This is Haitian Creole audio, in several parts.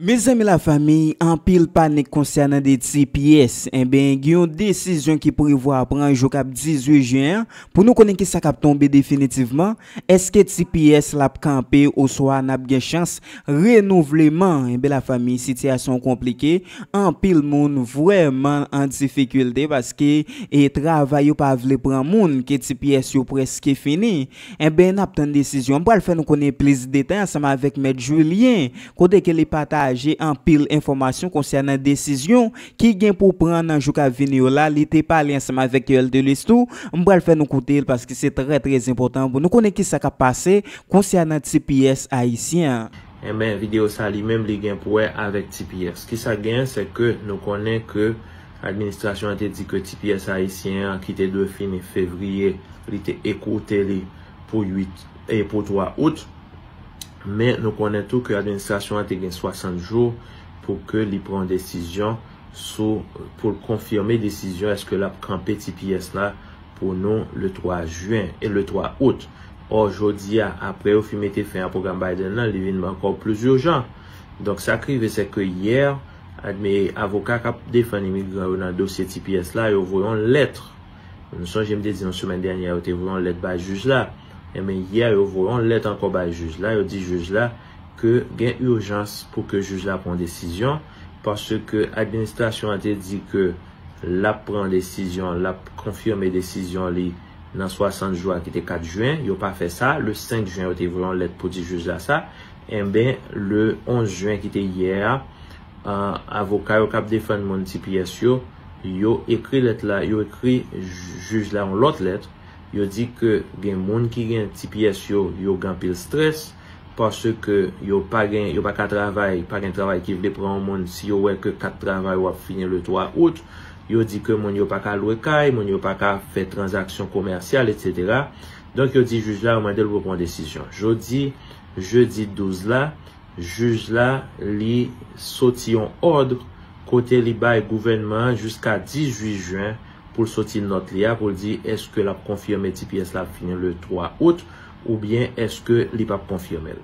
Mezanmi la fami, anpil panik konsènan de ti pyès. Enben, gen yon desizyon ki prevwa pran jou k ap 18 jen an pou nou konnen ki sa k ap tonbe definitivman. Eske tps la ap kanpe oswa n ap gen chans renouvleman? Enben la fanmi sitiyasyon an konplike, anpil moun vrèman an difikilte paske e travay yo pa vle pran moun ke tps yo prèske fini. Enben n ap tann desizyon. M pral fè nou konnen plis detay ansanm avèk mèt Julien kote ke li pataje anpil enfòmasyon konsènan desizyon ki gen pou pran nan jou kap vini yo la, li te pale ansanm avèk Yoel Delus tou, m pral fè nou koute l paske se trè trè enpòtan pou nou konnen kisa kap pase konsènan tps ayisyen an. Enben video sa li menm li gen pou wè avèk tps. Kisa k genyen se ke nou konnen ke administrasyon an te di ke tps ayisyen an ki te dwe fini fevriye li te ekoute li pou 8 e pou 3 out. Men nou konnen tou ke administrasyon an te gen 60 jou pou ke li pran yon desizyon sou pou l konfime desizyon eske l ap kanpe tps la pou nou le 3 juin e le 3 août. Ò jodi a apre yo fin mete fen a pwogram Biden lan li vin ankò plis urjan. Donk sa k rive se ke yè admi avoka k ap defann imigran yo nan dosye tps la yo voye yon lèt. Nou sonje m te di nou semèn dènyè yo te voye yon lèt bay jij la. Enben yè yo voye yon lèt ankò bay jij la, yo di jij la ke gen urjans pou ke jij la pran desizyon paske administrasyon an te di ke lap pran desizyon, lap konfime desizyon li nan 60 jou a ki te 4 juin, yo pa fè sa, le 5 juin yo te voye yon lèt pou di jij la sa, enben le 11 juin ki te yè a, avoka yo kap defann moun tps yo, yo ekri lèt la, yo ekri jij la yon lòt lèt. Yo di ke gen moun ki gen ti pyès yo, yo gen anpil strès, paske yo pa gen, yo pa ka travay, pa gen travay ki vle pran yon moun si yo wè ke kat travay ou ap fini le 3 out. Yo di ke moun yo pa ka lwe kay, moun yo pa ka fè tranzaksyon komèsyal, etsetera. Donk yo di jij la, yo mande l pou l pran yon desizyon. Jodi, jedi 12 la, jij la li soti yon òdr kote li bay gouvènman an jiska 18 jen, pou l soti nòt li a pou l di èske l ap konfime ti pyès la ap fini le 3 out oubyen èske li p ap konfime l.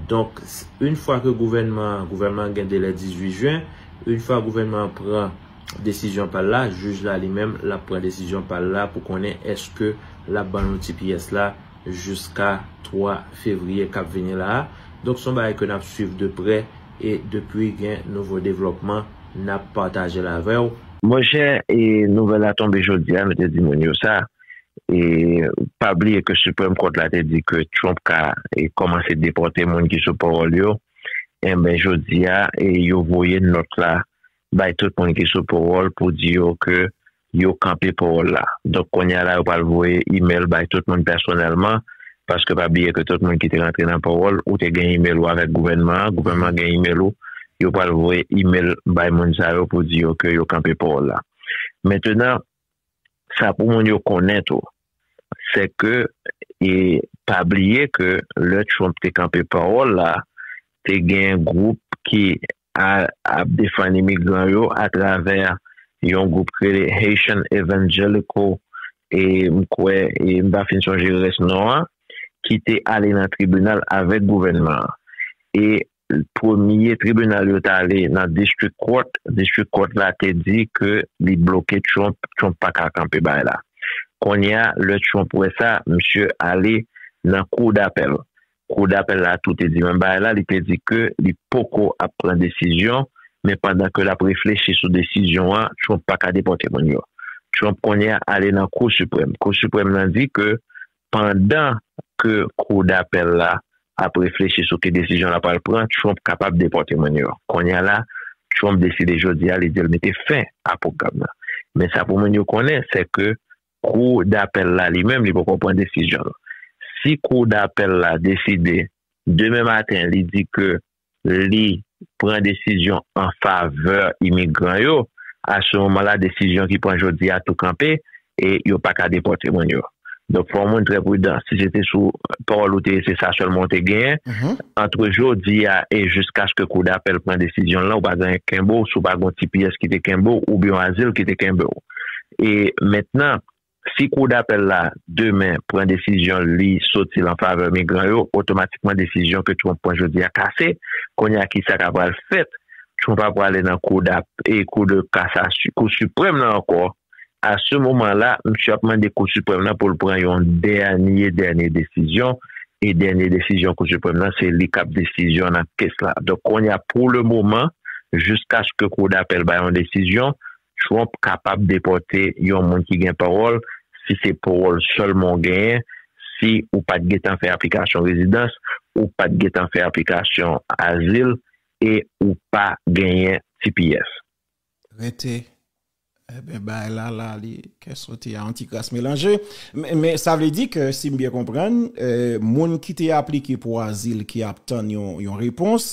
Donk, in fwa ke gouvènman an, gouvènman an gen delè 18 jen, in fwa gouvènman an pran desizyon pa l la, jij la li menm l ap pran desizyon pa l la pou konnen èske l ap ban nou ti pyès la jiska 3 fevriye k ap vini la a. Donk, s on bagay ke n ap swiv de prè. e depi gen nouvo devlòpman nap patajel avèw. Monchè e nouvèl la tonbe jodia nou te di moun yo sa e pa bliye ke supreme court la te di ke Trump ka e kòmanse depòte moun ki sou paròl yo enben jodia e yo voye nòt la bay tout moun ki sou paròl pou di yo ke Yo kanpe powòl la. Donk kounye a la yo pral voye email bay tout moun pèsonèlman, paske pa bliye ke tout moun ki te rantre nan powòl, ou te gen email ou avèk gouvènman an, gouvènman an gen email ou, yo pral voye email bay moun sa yo pou di yo ke yo kanpe powòl la. Mentenan, sa pou moun yo konnen tou, se ke e pa bliye ke lè Trump te kanpe powòl la, te gen gwoup ki a ap defann imigran yo atravè yon gwoup ki rele Haitian Evangelical e m kwè e m pa fin sonje rès non an ki te ale nan tribinal avèk gouvènman an e premye tribinal yo t ale nan District Court District Court la te di ke li bloke Trump Trump pa ka kanpe bagay la kounye a lè Trump wè sa misye ale nan Cour d'Appel Kou dapèl la tou te di menm bagay la, li te di ke li poko ap pran desizyon, men pandan ke lap reflechi sou desizyon an, Trump pa ka depòte moun yo. Trump kounye a ale nan Kou Siprèm. Kou Siprèm nan di ke pandan ke Kou dapèl la ap reflechi sou ki desizyon la pral pran, Trump kapab depòte moun yo. Kounye a la, Trump deside jodi a li di l mete fen a pwogram nan. Men sa pou moun yo konnen, se ke Kou dapèl la li menm li poko pran desizyon l. Si kou dapèl la deside demen maten li di ke li pran desizyon an favè imigran yo, a se moman la desizyon ki pran jodi a tou kanpe e yo pa ka depòte moun yo. Donk fò moun trè pridan. Si se te sou pawòl ou te ye se sa sèlman ou te genyen, antre jodi a e jiskaske kou dapèl pran desizyon l lan ou pa gen anyen ki kenbe w, si w pa gen yon ti pyès ki te kenbe w oubyen yon azil ki te kenbe w. E mentnan, si kou dapèl la demen pran desizyon li soti l an favè migran yo, otomatikman desizyon ke Trump pran jodi a kase. Kounye a kisa ka pral fèt? Trump ap prale nan kou dap e kou de kasasy kou siprèm lan ankò. A se moman la, msye ap mande kou siprèm lan pou l pran yon dènye dènye desizyon e dènye desizyon kou siprèm lan se li kap desizyon nan kes la. Donk kounye a pou le moman jiskaske kou dapèl bay yon desizyon, Trump kapab depòte yon moun ki gen pawòl si se pawòl sèlman w genyen, si ou pa t gentan fè aplikasyon rezidans, ou pa t gentan fè aplikasyon azil e ou pa genyen tps. Rete, Enben bagay la la li kè sote a antikras melanje. Men sa vle di ke si m byen konprann, moun ki te aplike pou azil ki ap tann yon repons,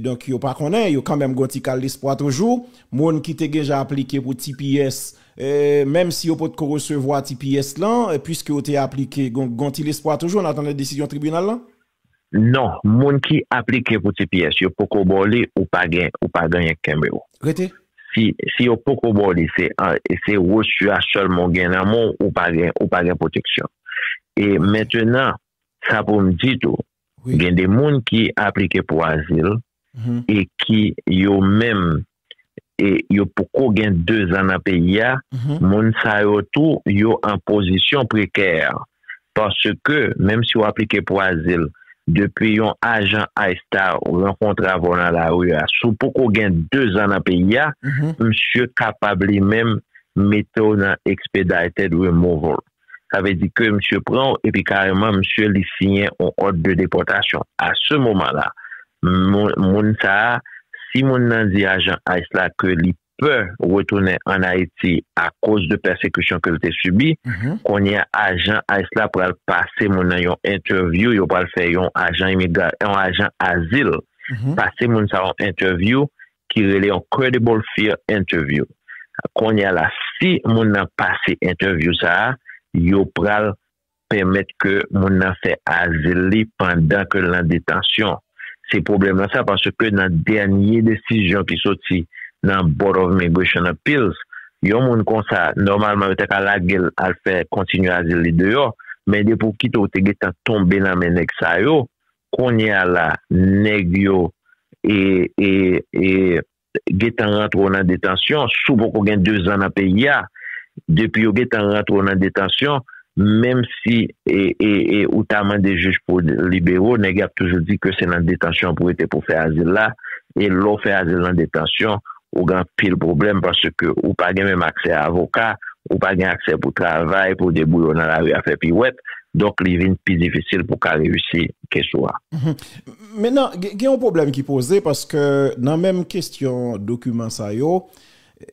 Donk yo pa konnen, yo kanmenm gon ti kal lespwa toujou. Moun ki te genja aplike pou tps, menm si yo potko resevwa tps lan, puiske yo te aplike, gon ti lespwa toujou an atandan desizyon tribinal lan? Non, moun ki aplike pou tps, yo poko ba w li, ou pa gen, ou pa gen anyen k kenbe w. Rete. Si yo poko ba w li, se resu a sèlman w gen nan men w, ou pa gen, ou pa gen pwoteksyon. E mentenan, sa pou m di tou, Gen de moun ki aplike pou azil e ki yo menm e yo poko gen 2 zan nan peyi a, moun sa yo tou yo an pozisyon prekè. Paske menm si w aplike pou azil, depi yon ajan ice ta rankontre avè w nan lari a, si w poko gen 2 zan nan peyi a, misye kapab li menm mete w nan expedited removal. Sa vle di ke misye pran w epi kareman misye li siyen on òd de depòtasyon. A se moman la, moun sa a, si moun nan di ajan ice la ke li pè retounen an Ayiti akoz de pèsekisyon ke l te sibi, kounye a ajan ice la pral pase moun nan yon entèvyou, yo pral fè yon ajan imigra, yon ajan azil pase moun sa a yon entèvyou ki rele yon credible fear interview konnya la si moun nan pase entèvyou sa yo pral pèmèt ke moun nan fè azil li pandan ke l nan detansyon se pwoblèm lan sa paske nan dènye desizyon ki soti nan Board of Immigration Appeals yon moun konsa nòmalman yo ta ka lage l al fè kontinye azil li deyò men depi w kite w te gentan tonbe nan men nèg sa yo Kounye a la nèg yo gentan rantre w nan detansyon, si w poko gen 2 zan nan peyi a, depi yo gentan rantre w nan detansyon, menm si ou ta mande jij pou libere w, nèg yo ap toujou di ke se nan detansyon pou rete pou fè azil la, e lè w fè azil nan detansyon, ou gen anpil pwoblèm paske ou pa gen menm aksè a avoka, ou pa gen aksè pou travay, pou debouye w nan lari a fè piwèt, donk li vin pi difisil pou w ka reyisi kes ou a. Mennan, gen yon pwoblèm ki poze paske nan menm kestyon dokiman sa yo,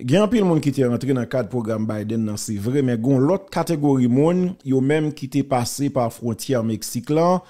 gen anpil moun ki te rantre nan kad pwogram Biden nan se vre, men gon lòt kategori moun, yo menm ki te pase pa fwontyè Meksik lan,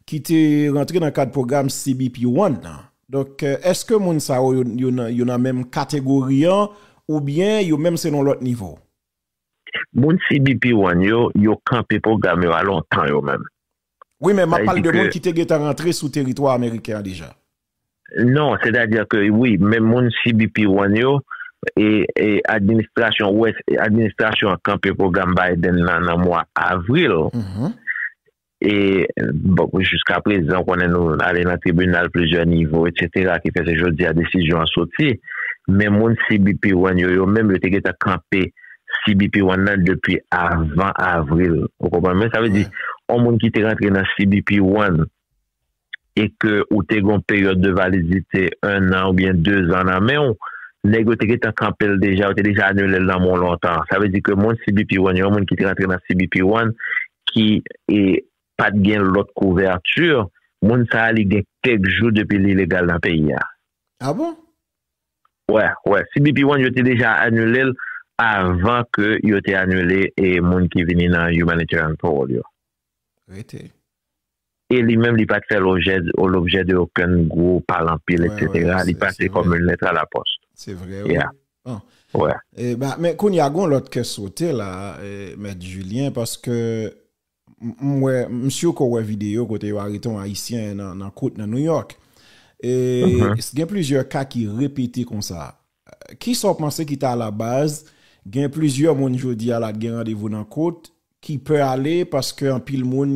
ki te rantre nan kad pwogram CBP One nan. Donk eske moun sa yo yo nan menm kategori an oubyen yo menm se nan yon lòt nivo? Moun CBP one yo, yo kanpe pwogram yo a lontan yo menm. Wi men map pale de moun ki te gentan rantre sou teritwa ameriken an deja. Non, sètadi ke wi men moun CBP one yo e administrasyon wè administrasyon an kanpe pwogram Biden nan nan mwa avril. E jiska prezan konnen nou ale nan tribinal plizyè nivo etsetera ki fè se jodi a desizyon an soti. Men moun CBP One yo yo menm yo te gentan kanpe CBP One nan depi avan avril. Ou konprann mwen? Sa vle di on moun ki te rantre nan CBP One. e ke ou te gen yon peryòd de validite 1 an oubyen 2 zan nan men ou, nèg yo te gentan kanpe l deja, yo te deja anile l nan men w lontan. Sa vle di ke moun CBP One yo, moun ki te rantre nan CBP One ki e pa t gen lòt kouvèti, moun sa a li gen kèk jou depi li legal nan peyi a. A bon? Wè, wè. CBP One yo te deja anile l avan ke yo te anile e moun ki vini nan Humanitarian Parole yo. Rete. E li menm li pat fè lojè o lobjè de okenn gwo pale anpil eksetera, li pase kòm yn lèt a la pòs. Se vre wi. Ya. Bon. Wè. Eba men kounye a gon lòt kè sote la mèt Julien paske m wè m sur ke w wè videyo kote yo arete yon ayisyen nan kout nan New York e gen plizyè ka ki repete konsa Ki sa w panse ki ta alabaz gen plizyè moun jodi a la k gen randevou nan kot ki pè ale paske anpil moun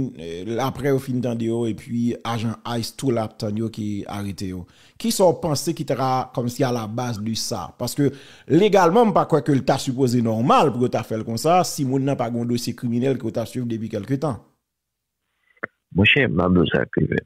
aprè yo fin tande yo epi ajan ice tou la ap tann yo ki arete yo? Ki sa w panse ki ta kòmsi alabaz de sa? Paske legalman m pa kwè ke l ta sipoze nòmal pou yo ta fè l konsa si moun nan pa gen yon dosye kriminèl ke yo ta swiv depi kèlke tan. Monchè, m ap di w sa Krivèt,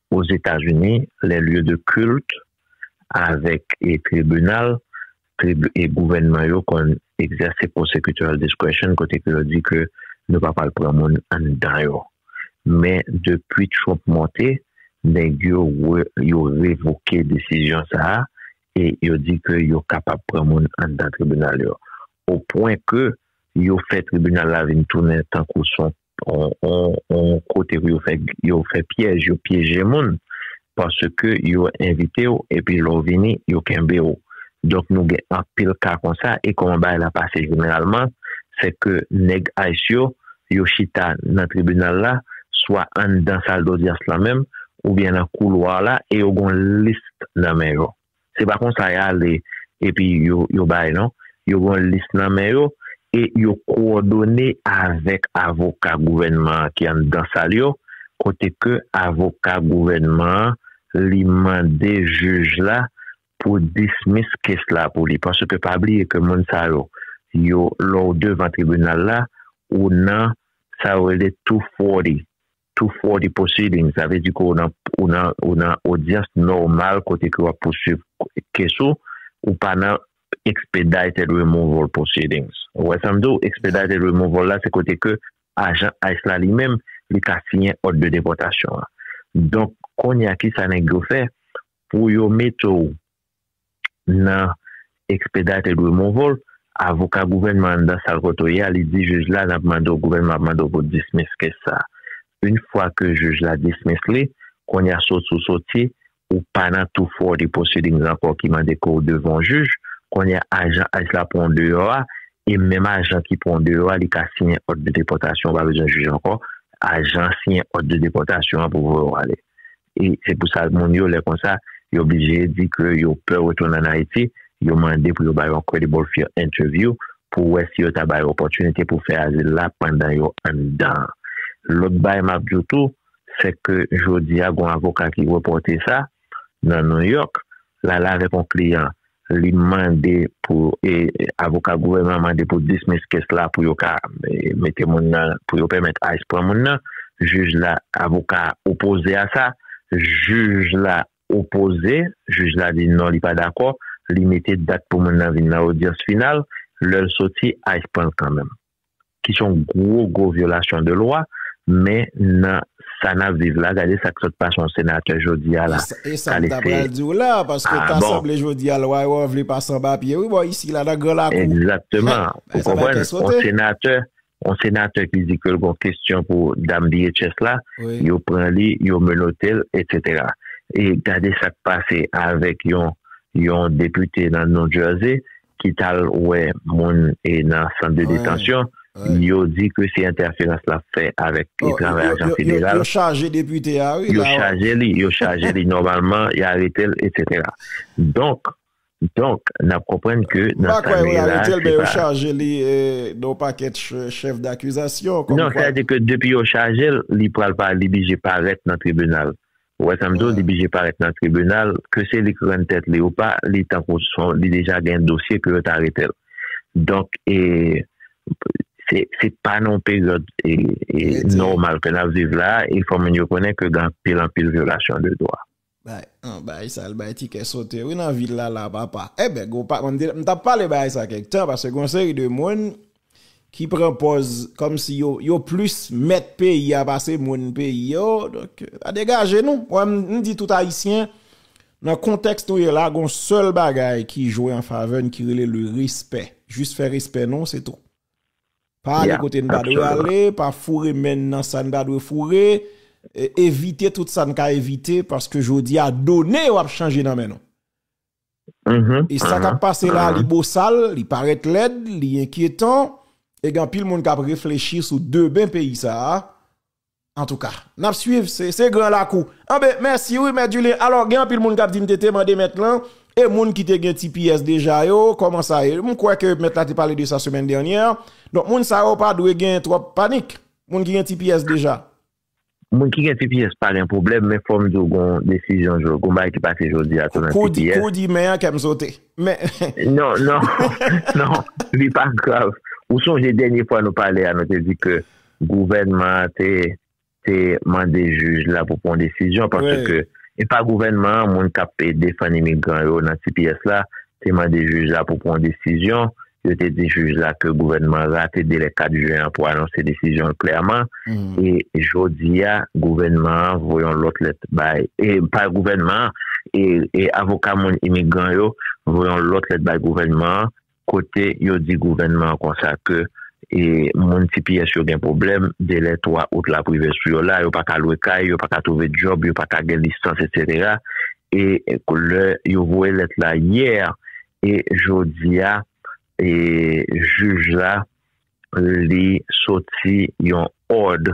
Ozetazini, lè lye de kilt avèk e tribinal e gouvènman yo konn egzèse prosecutorial discretion kote ke yo di ke nou pa pral pran moun anndan yo. Men depi Trump monte, nèg yo re yo revoke desizyon sa a e yo di ke yo kapab pran moun anndan tribinal yo. O pwen ke yo fè tribinal la vin tounen tankou son on kote pou yo fè pyèj, yo pyeje moun, paske yo envite w, epi lè w vini, yo kenbe w. Donk nou gen anpil ka konsa, e kòman bagay la pase jeneralman, se ke nèg ice yo, yo chita nan tribinal la, swa anndan sal dodyans la menm, oubyen nan koulwa la, e yo gen yon list nan men yo. Se pa konsa y ale epi yo bay non. Yo gen yon lis nan men yo e yo kowòdone avèk avoka gouvènman an ki anndan sal yo kote ke avoka gouvènman an li mande jij la pou dismiss case la pou li. Paske pa bliye ke moun sa yo, yo lè w devan tribinal la, ou nan sa yo rele 240. Tou fò di pwosiding, sa vle di ke ou nan odyans nòmal kote ke w ap pouswiv kes ou, ou pa nan expedited removal proceedings. Ou wè sa m di w? Expedited removal la se kote ke ajan ice la li menm li ka siyen òd de depòtasyon an. Donk, kounye a kisa nèg yo fè pou yo mete w nan Expedite et Removal, avoka gouvènman anndan sal kote w ye a, li di jij la n ap mande w, gouvènman ap mande w pou w dismiss kes sa a. Une fwa ke jij la dismiss li, kounye a soti w soti, ou pa nan 240 proceedings ankò ki mande ke w devan yon jij, kounye a ajan ice la pran w deyò a, e menm ajan ki pran w deyò a li ka siyen òd de depòtasyon, ou pa bezwen jij ankò, ajan an siyen òd de depòtasyon an pou voye w ale. E se pou sa moun yo lè konsa yo blije di ke yo pè retounen an Ayiti, yo mande pou yo bay yon credible fear interview pou wè si yo ta bay opòtinite pou fè azil la pandan yo anndan an. Lòt bay map di w tou, sè ke jodi a gon avoka ki repòte sa nan New York, lal avèk yon kliyan Li mande pou avoka gouvènman mande pou dismiss kes la pou yo ka mete moun nan, pou yo pèmèt ice pran moun nan. Jij la, avoka a opoze a sa. Jij la opoze, jij la di non li pa dakò. Li mete dat pou moun nan vin nan odyans final. Lè l soti, ice pran l kanmenm. ki se yon gwo gwo vyolasyon de lwa men nan sa nap viv la gade sak sot pase yon senatè jodia la esam ta pral diw la paske ta sanble jodia lwa yo an vle pase anba pye wi bò isi la nan gran lakou egzakteman ou konprann yon senatè yon senatè ki di kel gon kestyon pou dam DHS la yo pran li yo menotel etc e gade sak pase avèk yon yon depite nan New Jersey ki t al wè moun nan sant de detansyon, yo di ke se entèferans l ap fè avèk travay ajan federal. Yo chaje depite a wi la. Yo chaje li, yo chaje li nòmalman, y arete l etsetera. Donk, donk, n ap konprann ke nan sa li ye la se pa. M pa kwè yo arete l men yo chaje li nan yon pakèt chèf dakizasyon. Non, sa vle di ke depi yo chaje l, li pral pa li blije parèt nan tribinal. Ou wè sa m di w, li bije parèt nan tribinal, ke se li k rann tèt li ou pa, li tankou son, li deja gen dosye ke yo t arete l. Donk, e, se, se pa nan yon peryòd, e, e, nòmal ke n ap viv la a, e fò moun yo konnen ke gen anpil, anpil vyolasyon de dwa. Bay, an, bay sa l bay ti kè sote wi nan vil la la a papa. Eben, gwo pa, m te, m t ap pale bagay sa kèk tan, paske gen yon seri de moun. ki pran pòz kòm si yo yo plis mèt peyi a pase moun peyi yo donk a degaje nou wè m di tout ayisyen nan kontèks nou ye la gon sèl bagay ki jwe an favè n ki rele le respè jis fè respè nou se tou pa ale kote n pa dwe ale pa foure men n nan sa n pa dwe foure evite tout sa n ka evite paske jodi a done yo ap chanje nan men nou E sa kap pase la li bosal, li parèt lèd, li enkyetan, e gen anpil moun kap reflechi sou demen peyi sa a. Antouka, nap swiv, se gran lakou. Anben, mèsi wi mèt Julien. Alò, gen anpil moun kap di m te te mande mèt lan, e moun ki te gen tps deja yo, kòman sa ye? M kwè ke mèt la te pale de sa semèn dènyè. Donk moun sa yo pa dwe gen twòp panik, moun ki gen tps deja. Moun ki gen tps pa gen pwoblèm men fòm diw gon desizyon jodi gon bagay ki pase jodi a tou nan tps. Kou w di men an kèm sote. Non non non li pa grav ou sonje dènye fwa nou pale a nou te di ke gouvènman an te te mande jij la pou pran yon desizyon paske e pa gouvènman an moun kap defann imigran yo nan tps la te mande jij la pou pran yon desizyon Yo te di jij la ke gouvènman an rate delè 4 jen an pou anonse desizyon l klèman e jodi a gouvènman an voye yon lòt lèt bay, pa gouvènman an, e avoka moun imigran yo voye yon lòt lèt bay gouvènman an kote yo di gouvènman an konsa ke moun tps yo gen pwoblèm, delè 3 out la ap rive sou yo la, yo pa ka lwe kay, yo pa ka twouve djòb, yo pa ka gen lisans, etsetera. E lè yo voye lèt la yè, E jodi a e jij la li soti yon òd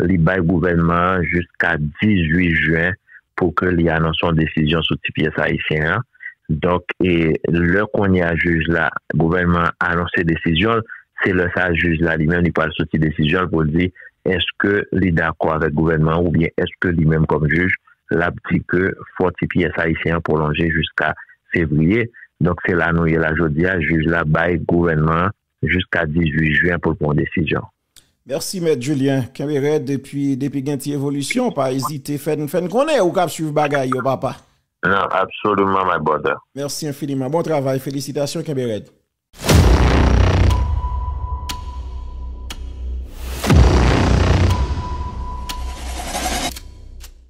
li bay gouvènman an jiska 18 jen pou ke li anonse yon desizyon sou ti pyès ayisyen an. Donk e lè kounye a jij la gouvènman an anonse desizyon l, se lè sa jij la li menm li pral soti desizyon l pou l di èske li dakò avèk gouvènman an oubyen èske li menm kòm jij l ap di ke fò ti pyès ayisyen an pwolonje jiska fevriye. Donk se la nou ye la jodi a, jij la bay gouvènman an jiska 18 jen pou l pran yon desizyon. Mèsi mèt Julien, kenbe rèd epi depi gen ti evolisyon pa ezite fè n fè n konnen ou k ap swiv bagay yo papa. Nan absolument my brother. Mèsi enfiniman, bon travay, felisitasyon kenbe rèd.